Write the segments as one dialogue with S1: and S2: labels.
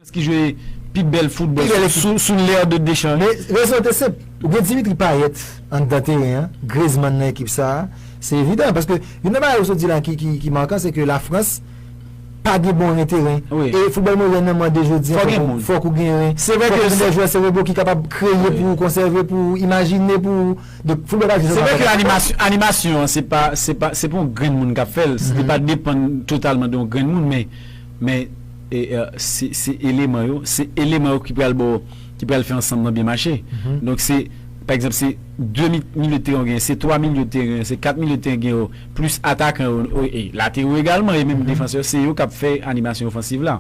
S1: Defans ki jwe pi bèl foutbòl sou l'ère de Deschamps. Men, rezon an te senp.
S2: Ou gen Dimitri Payet anndan teren an, Griezmann nan ekip sa a. Se evidan. Paske, youn nan bagay ou sot di la ki markan, se ke Lafrans pa gen bon ren teren. E foutbòl modèn
S1: nan mande
S2: jodi a fòk ou gen ren. Fòk ou gen de jwè serebo ki kapab kreye pou ou, konsève pou ou, imajine pou ou. Donk, foutbòl pa jwe sèlman avèk ren. Se vre
S1: ke animasyon an, se pa yon grenn moun k ap fè l. Li pa depann totalman de yon grenn moun. Men. Men se eleman yo, se eleman yo ki pral ba w, ki pral fè ansanm nan byen mache. Donk se, pa egzanp, se 2 milye de teren yo genyen, se 3 milye de teren, se 4 milye de teren gen yo, plis atakan yo, e latewo egalman, e menm defansè yo, se yo k ap fè animasyon ofansiv la.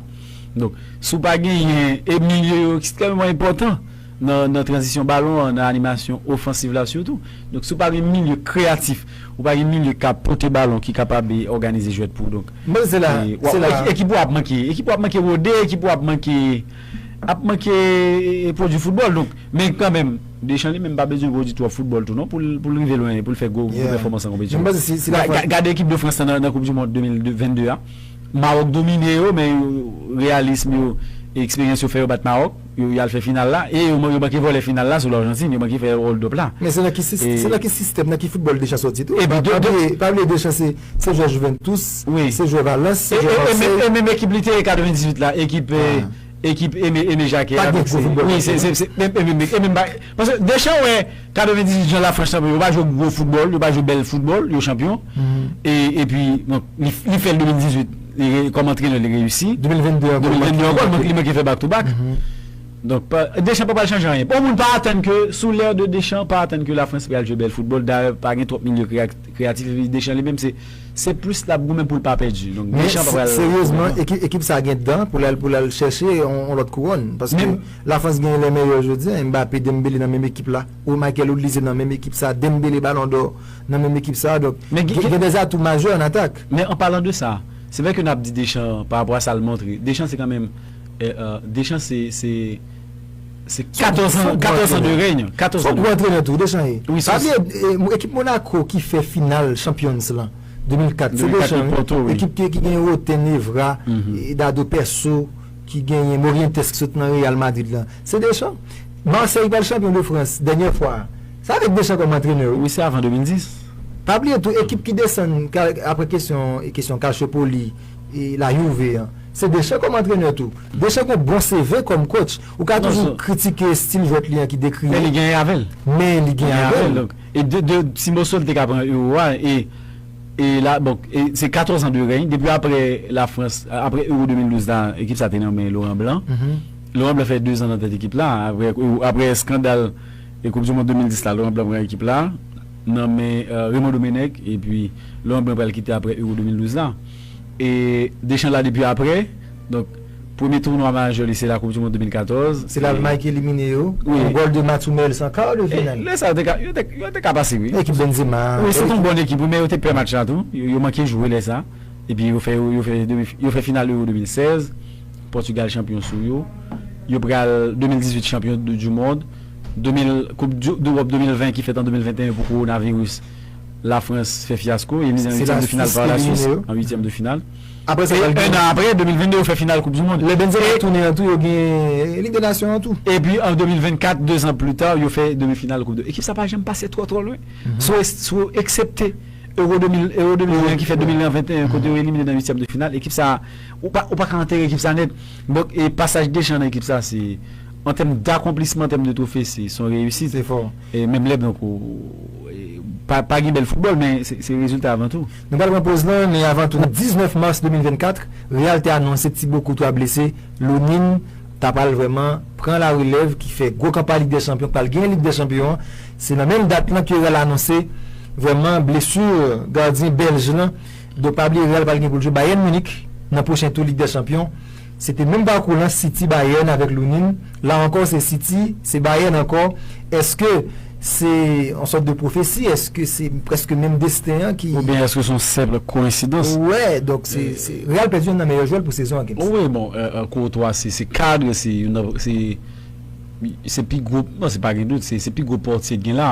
S1: Donk, si w pa genyen, e milye yo ekstrèmeman enpòtan. nan tranzisyon balon an, nan animasyon ofansiv la sitou. Donk si w pa gen milye kreyatif, ou pa gen milye k ap pote balon, ki kapab òganize jwèt pou ou donk, ekip
S2: ou ap
S1: manke, ekip ou ap manke rode, ekip ou ap manke, ap manke pwodui foutbòl donk. Men kanmenm, Deschamps li menm pa bezwen pwodui twòp foutbòl tou non pou l rive lwen, pou l fè gwo pèfòmans nan konpetisyon an. Gade ekip de Frans lan nan koup dimond 2022 a, Mawòk domine yo men reyalism yo, eksperyans yo fè yo bat Mawòk. Yo yal fè final la e yo manke vòlè final la sou Largentine yo manke fè hold up la. Men se nan ki sistè, se
S2: nan ki sistèm, nan ki foutbòl Deschamps sòti tou. Pa bliye, pa bliye Deschamps se se jwè Juventus, se jwè Valence, se jwè Marseille. E menm ekip
S1: li te ye 98 la, ekip ekip Aimé Jacquet. Pa gen gwo foutbòlè. Wi se se se e menm e menm ba. Paske Deschamps wè 98 jan Lafrans chanpyon, yo pa jwe gwo foutbòl, yo pa jwe bèl foutbòl, yo chanpyon. E epi donk li fè l 2018, li re kòm antrenè li reyisi. 2022 ankò. 2022
S2: ankò, li manke li
S1: manke fè back to back. Donk pa Deschamps pa pral chanje anyen. Bon moun pa atann ke sou l'ère de Deschamps pa atann ke Lafrans pral jwe bèl foutbòl. Dayè pa gen twòp milye kreya kreyatif epi Deschamps li menm se se plis l ap goumen pou l pa pèdi. Donk Men Deschamps pa se pral seryezman ekip ekip
S2: sa gen dan pou l al pou l al chèche yon lòt kouwòn paske Men La France genyen lè mèyè jodia, Mbappé, Dembélé nan menm ekip la, ou Michael Odlizé nan menm ekip sa, Dembélé Ballon d'or nan menm ekip sa, donk gen des atouts majeurs en attaque. Men an palan de sa,
S1: se vè ke nap di Deschamps pa rapò a sal montre, Deschamps se kan menm, Deschamps se, se, se 14 ans, 14 ans de règne, 14 ans. Son gwo antrenè tou Deschamps ye. Wi
S2: son. Pa bliye ekip Monaco ki fè final Champions lan 2004, se Deschamps wi, ekip ki gen Roten, Evra, Dado Perso. ki genyen Morientes ki sot nan Real Madrid lan se Deschamps Marseille pral chanpyon de France dènyè fwa a se avèk Deschamps kòm antrenè wi. Wi se avan 2010.
S1: Pa bliye tou
S2: ekip ki desann aprè kesyon kesyon Calciopoli e la Juve an se Deschamps kòm antrenè tou Deschamps gen yon bon CV kòm coach ou ka toujou kritike stil jwèt li an ki dekriye men li gen avèl
S1: men li gen avèl e de ti moso li te ka pran Euro a e E la bon e se 14 ans de règne depi aprè la frans aprè euro 2012 la ekip sa te nan men loran blan loran blan fè 2 ans nan tèt ekip la aprè aprè eskandal e koup di mond 2010 la loran blan pran ekip la nan men remon domenèg epi loran blan pral kite aprè euro 2012 la e dechan la depi aprè donk. Premye tounwa majè li se la koup di mond 2014. Se Lalmay ki elimine
S2: yo, yon gòl de Mats Hummels an kar de final. Lè sa yo
S1: te ka pase wi. Ekip Benzema. Wi
S2: se te yon bon ekip wi
S1: men yo te pè match la tou, yo manke jwe lè sa. Epi yo fè yo fè demi yo fè final euro 2016, Pòtigal chanpyon sou yo. Yo pral 2018 chanpyon du mond, 2000 koup dewòp 2020 ki fèt an 2021 pou kowonaviris Lafrans fè fyasko, elimine an uityèm de final pa Laswis an uityèm de final. Aprè sa pral gen.
S2: E 1 an aprè, 2022,
S1: yo fè final koup di mond. Lè Benzema tounen an tou
S2: yo gen Lig de Nasyon an tou. Epi an 2024,
S1: 2 zan pli ta, yo fè demi final koup de. Ekip sa pa janm pase twò twò lwen. Sou eksepte Euro 2000, Euro 2020 an ki fèt 2021 an kote yo elimine nan uityèm de final, ekip sa ou pa ou pa ka antere ekip sa nèt. Donk e pasaj Deschamps nan ekip sa se an tèm dakonplisman, an tèm de twofe se son reyisit. Se fò. E menm
S2: lè donk ou
S1: pa pa gen bèl foutbòl men se rezilta avan tou. Nou pral pran poz lan, men
S2: avan tou nan 19 mars 2024, Real te anonse Thibaut Courtois blese, Lunin ta pral vrèman pran la relèv ki fè gwo kanpay Lig dè Chanpyon k pral genyen Lig dè Chanpyon an. Se nan menm dat lan ke Real anonse vrèman blesur gardyen Bèlj lan. Donk pa bliye Real pral gen pou l jwe Bayern Munich nan pwochen tou Lig dè Chanpyon Se te menm pakou lan City Bayern avèk Lunin, la ankò se City, se Bayern ankò, èske se yon sòt de pwofesi, èske se prèske menm desten an ki. Oubyen èske se yon senpl
S1: koensidans. Ou wè, donk se,
S2: se, Real pèdi youn nan meyè jwè l pou sezon an Gims. O wi, bon,
S1: Courtois se, se kadre, se youn nan, se, se pi gwo, bon se pa gen dout, se, se pi gwo pòtye k gen la,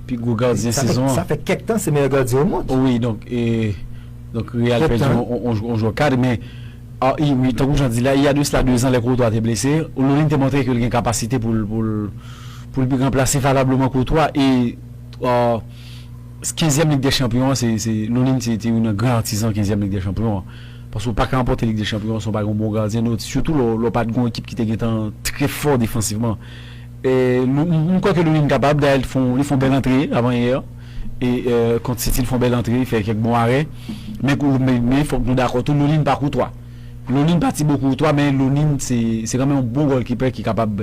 S1: pi gwo gardyen sezon an. Sa fè, sa fè kèk tan se meyè
S2: gardyen omond. O wi,
S1: donk,
S2: e,
S1: donk Real
S2: pèdi
S1: yon, yon
S2: jwè
S1: kadre men. Ah i wi, tankou jan di la, iya de sla dezan lè Courtois te blese, Hoululin te montre ke l gen kapasite pou l pou l pou l ranplase valableman Courtois e kenzyèm Lig dè Chanpyon an se se Hoululin se te youn nan gran atizan kenzyèm Lig dè Chanpyon an paske ou pa ka ranpòte Lig dè Chanpyon si w pa gen yon bon gardyen nou sitou lè w pa t gen yon ekip ki te gentan trè fò defansivman e m kwè ke Hoululin kapab dayè li te fè yon li fè yon bèl antre avan yè. kont Sitil fon bèl antre, fè kèk bon arè. Men kou men fòk nou dakò tou Lolin pa Koutwa. Lolin pa Tibo Koutwa men Lolin se se kanmenm yon bon gòlkipè ki kapab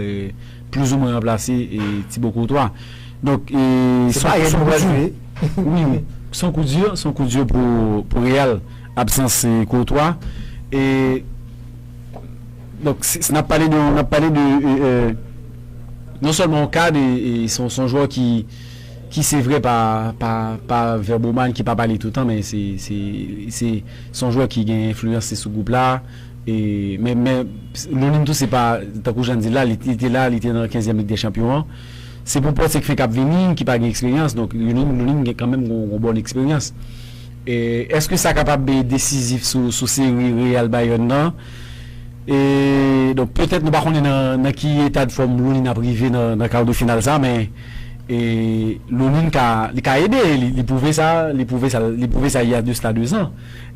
S1: plouzoumen ranplase Tibo Koutwa. Donk e Se pa Rèn nou pral jwe. Wi wi. Son kou di, son kou di pou pou Real absans Koutwa. E donk si n ap pale de n ap pale de non sèlman yon kad e son son jwè ki ki se vre pa pa Verboman ki pa pale toutan men se se son jwè ki gen enfliyanse sou gwoup la e men men Lunin tou se pa tankou jan n di l la li te la li te nan kenzyèm lig dè chanpyon an se pou pòt se k fen k ap vini ki pa gen eksperyans donk Lunin Lunin gen kanmenm gon gon bòn eksperyans e èske sa kapab e desizif sou sou seri Real Bayern nan e donk petèt nou pa konnen nan nan ki etadfòm Lunin ap rive nan nan kar de final sa men. E Loulin ka li ka ede e li pwouve sa li pwouve sa li pwouve sa il y a de cela 2 zan.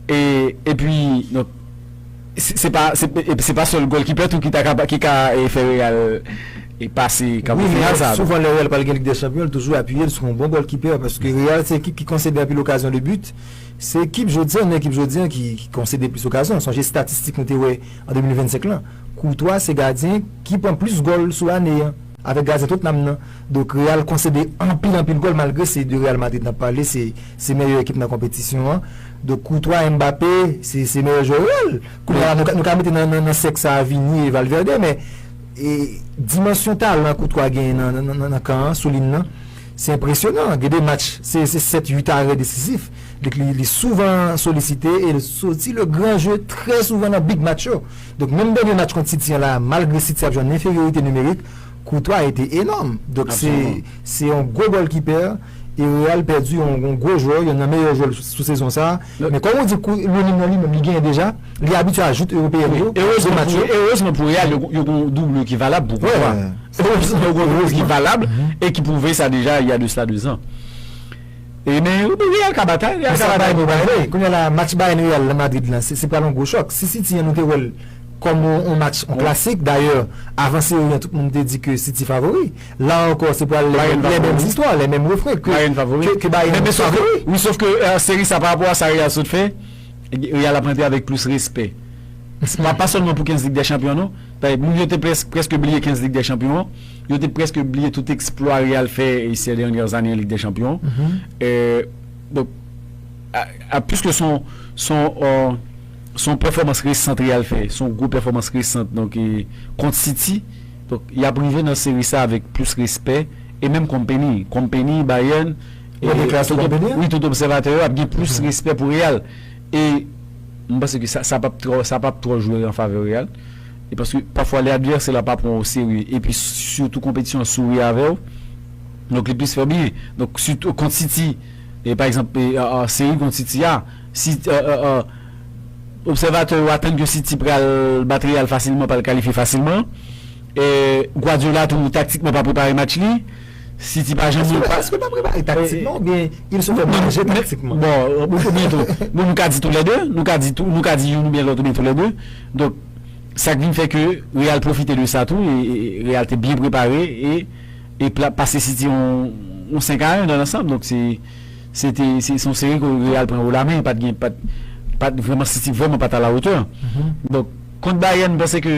S1: E epi donk se pa se pa sèl gòlkipè tou ki ta kapa ki ka fè Real pase kab final sa. Wi men souvan lè Real
S2: pral gen Lig dè Chanpyon li toujou apiye l sou yon bon gòlkipè paske Real se ekip ki konsede anpil okazyon de but. Se ekip jodi an ekip jodi an ki konsede plis okazyon. Sonje statistik nou te wè an 2025 lan. Courtois se gadyen ki pran plis gòl sou ane an. Avèk gazè tout nanm nan dok real konsede anpil anpil gòl malgre se de real madrid nap pale se se mèyè ekip nan konpetisyon an dok koutwa mbape se se mèyè jwè real kounya la nou ka mete nan nan nan sèk sa vini e valverde men e dimansyon talan koutwa genyen nan nan nan nan kan an soulin nan se enpresyonan gen de match se se sèt uit arè desizif dok li li souvan solisite el soti le gran jeu trè souvan nan big match yo Donk menm dènye match kont City an la malgre City ap jwe an enferyorite nimerik, Courtois a ete enòm. Donk se se yon gwo gòlkipè e Real pèdi yon yon gwo jwè, yonn nan meyè jwè l sou sezon sa a. Men kòm ou di kou Lunin nan li menm li genyen deja, li abitye a joute ewopeyèn yo, gwo match yo. Erezman pou erezman
S1: pou Real yo yo gon doublure ki valab pou Courtois. Erezman pou Real yo gon doublure ki valab e ki pwouve sa deja il y a de cela 2 ans. Wi men Real ka bat a. Mwen sa bay mwen bay vre. Kounya
S2: la match Bayern Real nan Madrid la se pral yon gwo chòk. Si City an nou te wèl kòm yon match yon klasik dayè avan seri an tout moun te di ke City favori. La ankò se pral lè menm zistwa, lè menm refren ke Bayern favori. Wi sof ke
S1: seri sa pa rapò a sa Real sot fè, Real ap rantre avèk plis respè. Pa sèlman pou 15 lig dè chanpyon non. Bay moun yo te prèske bliye 15 Lig dè Chanpyon an, yo te prèske bliye tout eksplwa Real fè sè dènyè zane an Lig dè Chanpyon an. A piske s on pèfòmans resant Real fè, s on gwo pèfòmans resant donk kont City, donk y ap rive nan seri sa avèk plis respè e menm Kompany, Kompany, Bayern, tout obsèvatè yo ap gen plis respè pou Real. E m panse ke sa pap twò sa pap twò jwe an favè Real. E paske pafwa lè advèsè la pa pran w o serye epi sitou konpetisyon an souri avè w donk li plis fè w bliye. Donk sitou kont City e pa egzanp seri kont City a si obsèvatè yo atann ke City pral bat Real fasilman pral kalifye fasilman e Guardiola tou taktikman pa prepare match li. Si ti pa janm. Eske pa prepare
S2: taktikman oubyen il se fè manje taktikman? Bon, oubyen tou,
S1: bon nou ka di tou lè 2, nou ka di tou, nou ka di youn oubyen lòt oubyen tou lè 2. Donk, sa k vin fè ke Real pwofite de sa tou e Real te byen prepare e e pase City yon 5 a 1 nan lansanm. Donk se se te se yon seri ke Real pran wo la men, pat gen pat pat vrèman City vrèman pat a la hauteur. Donk, kont Bayern m panse ke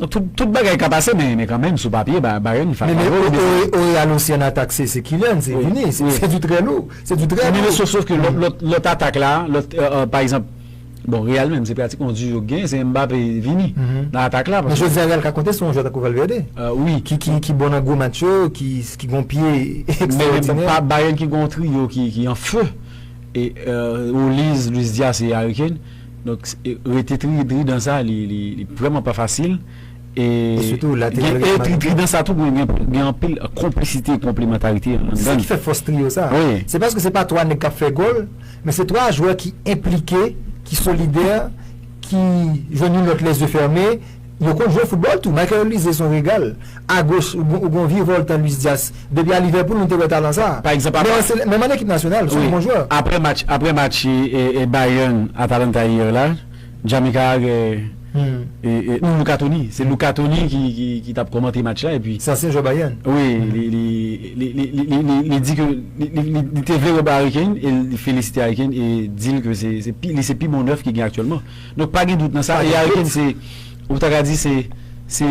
S2: Tout bagay ka pase men kanmenm sou papye Bayern fè fawol devan Real. Men o Real osi an atak se Kylian, se Vini, se du trè lou,
S1: se du
S2: trè
S1: lou.
S2: Sof
S1: ke lòt
S2: atak
S1: la, pa
S2: egzanp, bon
S1: Real menm se pratikman yon duo ki genyen, se Mbappé, Vini nan atak la. Men jodi a Real ka konte sou yon
S2: jwè tankou Valverde ki
S1: bon nan gwo
S2: match yo, ki gon pye ekstraòdinè. Men
S1: Bayern
S2: ki gon yon
S1: trio ki an feu, Oliz, Luis Diaz e Harry Kane. Donk rete tri dri dan sa li vrèman pa fasil e gen
S2: e tri dri dan sa tou
S1: gen anpil konplisite e konplemantarite nan dan li. Se sa ki fè fòs
S2: triyo sa. Se paske se pa 3
S1: nèg k
S2: ap fè gòl men se 3 jwè ki enplike, ki solidè, ki jwenn youn lòt lèzye fèmen Yo konn jwe foutbòl tou. Michael Olise son regal. Agoch ou gen yon virvoltan Luis Diaz. Depi a Liverpool nou te wè talan sa. Pa egzanp apre. Menm
S1: an ekip nasyonal
S2: son bon jwè. Apre match apre match
S1: Bayern Atalanta hier la Jamaica a gen non Luca Toni se Luca Toni ki tap kòmante match la epi. Se ansyen jwè Bayern. Wi li li li li di ke li te vle wè Harry Kane e li felisite Harry Kane e dil ke se li se pi bon nèf ki gen aktyèlman. Donk pa gen dout nan sa, e Harry Kane se, ou ta ka di se, se.